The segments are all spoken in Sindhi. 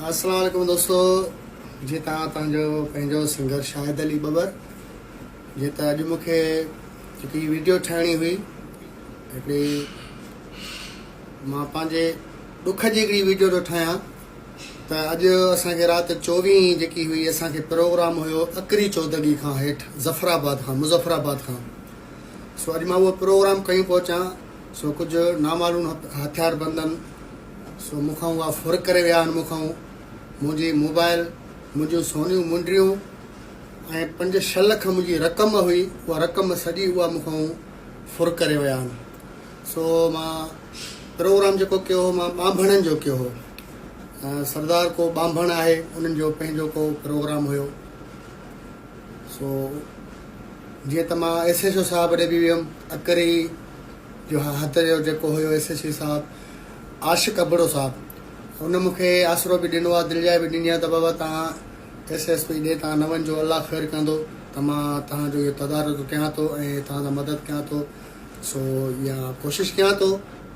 السلام عليڪم دوستو جي تان تان جو پنجو سنگر شاهد علي ببر جي تا اڄ مونکي جيڪي ويڊيو ٺاهڻي هئي هڪڙي مان پنهنجي ڏک جي هڪڙي ويڊيو ٿو ٺاهيان ته اڄ اسان کي رات 24 جيڪي هئي اسان کي پروگرام هيو اڪري چودگي کان هيٺ ظفر آباد کان مظفر آباد کان سو اڄ مان اهو پروگرام ڪيون پهچان سو ڪجهه نامعلوم هٿيار بندن سو مون کان اها ڦر ڪري ويا آهن مون کان منهنجي موبائل منهنجيون سونيون منڊيون ۽ پنج ڇهه لک منهنجي رقم هئي اها رقم سڄي اها مون کان ڦر ڪري ويا آهن سو مان پروگرام جيڪو ڪيو هو مان ٻانڀڻن جو ڪيو هو سردار ڪو ٻانڀڻ آهي انهن جو پنهنجو ڪو پروگرام هيو سو جيئن ته مان ايس ايس او صاحب ڏي بي ويم اڪري جو هٿ جو جيڪو هيو ايس ايس او صاحب عاشق ابڙو صاحب ان مون کي آسرو به ڏنو آ دلجاء به ڏني آ ته بابا تهان ايس ايس پي ڏي تهان نه وڃجو الله خير ڪندو ته مان تهان جو اهو تدارڪ ڪيان ٿو ۽ تهان سان مدد ڪيان ٿو سو يا ڪوشش ڪيان ٿو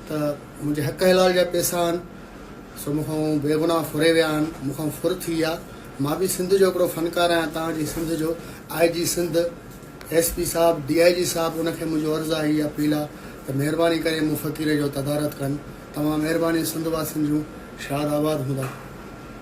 ته منهنجي حق حلال جا پيسا آهن سو مون کان بي گناهه ڦري ويا آهن مون کان ڦر ٿي ويا مان به سنڌ جو هڪڙو فنڪار آهيان تهان جي سنڌ جو I G Sindh S P صاحب، ڊي آء جي صاحب ان کي منهنجو عرض آ هي اپيل آ ته مهرباني ڪري مون فقير جو تدارت ڪن. توهان مهرباني سنڌ واسين جون شاد آباد هوندا.